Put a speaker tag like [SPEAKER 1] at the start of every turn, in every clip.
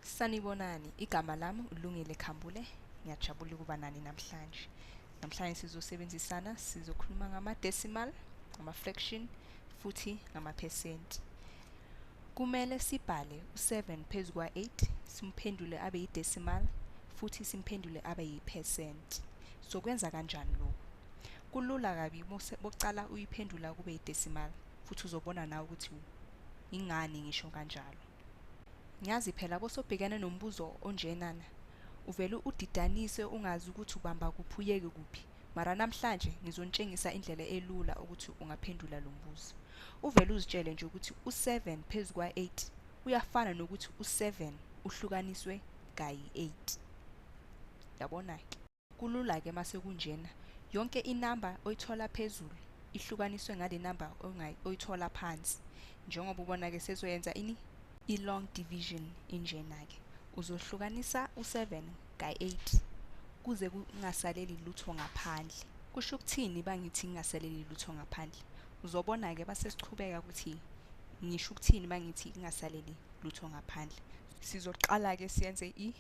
[SPEAKER 1] Sanibonani, igama lami uLungile Khambule. Ngiyajabula ukuba nani namhlanje. Namhlanje sizosebenzisana sizokhuluma ngama-decimal, ngama-fraction futhi ngamaphesenti. Kumele sibhale u-7 phezu kwa-8 simphendule abe yi-decimal futhi simphendule abe yi-percent. Sokwenza kanjani lokhu? Kulula kabi bokucala uyiphendula kube yi-decimal futhi uzobona nawe ukuthi ingani ngisho kanjalo. Ngiyazi phela kosobhekene nombuzo onjenana. Uvele udidanise ungazi ukuthi ubamba kuphi uyeke kuphi. Mara namhlanje ngizontshengisa indlela elula ukuthi ungaphendula lo mbuzo. Uvele uzitshele nje ukuthi u-7 phezu kwa-8 uyafana nokuthi u-7 uhlukaniswe kayi-8. Yabona-ke. Kulula ke mase kunjena. Yonke inamba oyithola phezulu ihlukaniswe ngale namba oyithola phansi. Njengoba ubona ke sezoyenza ini i-long division injena ke. Uzohlukanisa u7 ka8 kuze kungasaleli lutho ngaphandle. Kusho ukuthini bangithi kungasaleli lutho ngaphandle? Uzobona ke base sichubeka ukuthi ngisho ukuthini mangithi kungasaleli lutho ngaphandle. Sizoqala ke siyenze i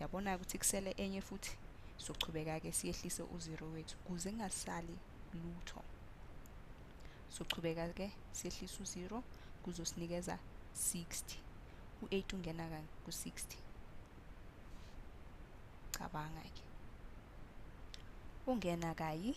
[SPEAKER 1] yabona-ke ukuthi kusele enye futhi sochubeka-ke siyehlise uzero wethu kuze kungasali lutho sochubeka-ke siyehlise uzero kuzosinikeza 60 u-8 ungena ku-60 cabanga-ke ungena kayi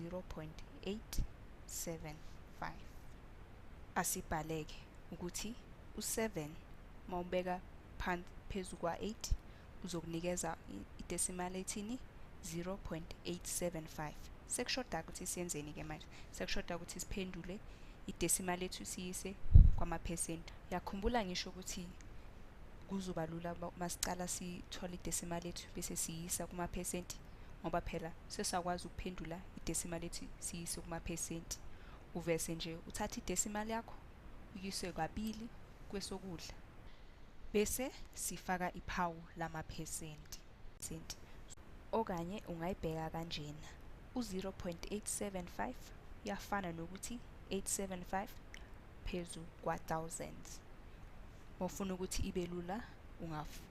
[SPEAKER 1] 0.875 asibhaleke ukuthi u7 mawubeka phansi phezulu kwa8 uzokunikeza idecimal ethini 0.875 sekushoda ukuthi siyenzeni ke manje sekushoda ukuthi siphendule idecimal ethu siyise kwamaphesenti yakhumbula ngisho ukuthi kuzoba lula uma sicala sithola idecimal ethu bese siyisa kumaphesenti ngoba phela sesakwazi ukuphendula idesimal ethi siyise kumaphesenti uvese nje uthatha idesimal yakho uyise kabili kwesokudla bese sifaka iphawu lamaphesenti senti okanye ungayibheka kanjena u-0.875 yafana nokuthi 875 phezu kwa-thousands mofuna ukuthi ibe lula ungafu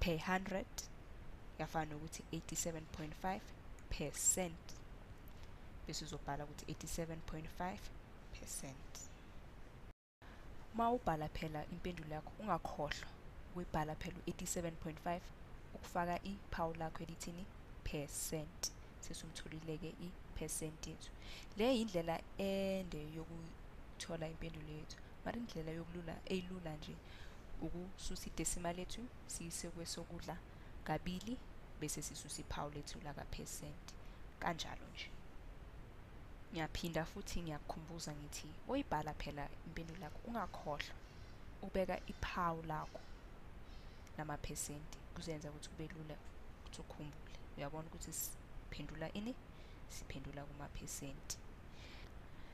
[SPEAKER 1] per 100 yafana nokuthi 87.5 percent bese uzobhala ukuthi 87.5 percent uma ubhala phela impendulo yakho ungakhohlwa ukuyibhala phela u-87.5 ukufaka iphawu lakho elithini percent sesumtholile-ke i-percent yethu le yindlela ende yokuthola impendulo yethu mara indlela yokulula eyilula nje ukususa idesima lethu siyise kwesokudla kabili bese sisusa iphawu lethu lakaphesenti kanjalo nje ngiyaphinda futhi ngiyakukhumbuza ngithi oyibhala phela impendulo yakho ungakhohlwa ubeka iphawu lakho namaphesenti kuzenza ukuthi kube lula ukuthi ukhumbule uyabona ukuthi siphendula ini siphendula kumaphesenti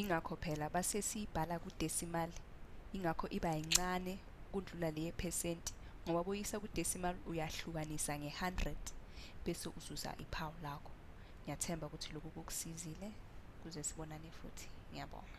[SPEAKER 1] Ingakho phela base siyibhala kudesimali, ingakho iba yincane kundlula le yephesenti ngoba boyisa kudesimali uyahlukanisa nge-100 bese uzuza iphawu lakho. Ngiyathemba ukuthi lokhu kukusizile kuze sibonane futhi. Ngiyabonga.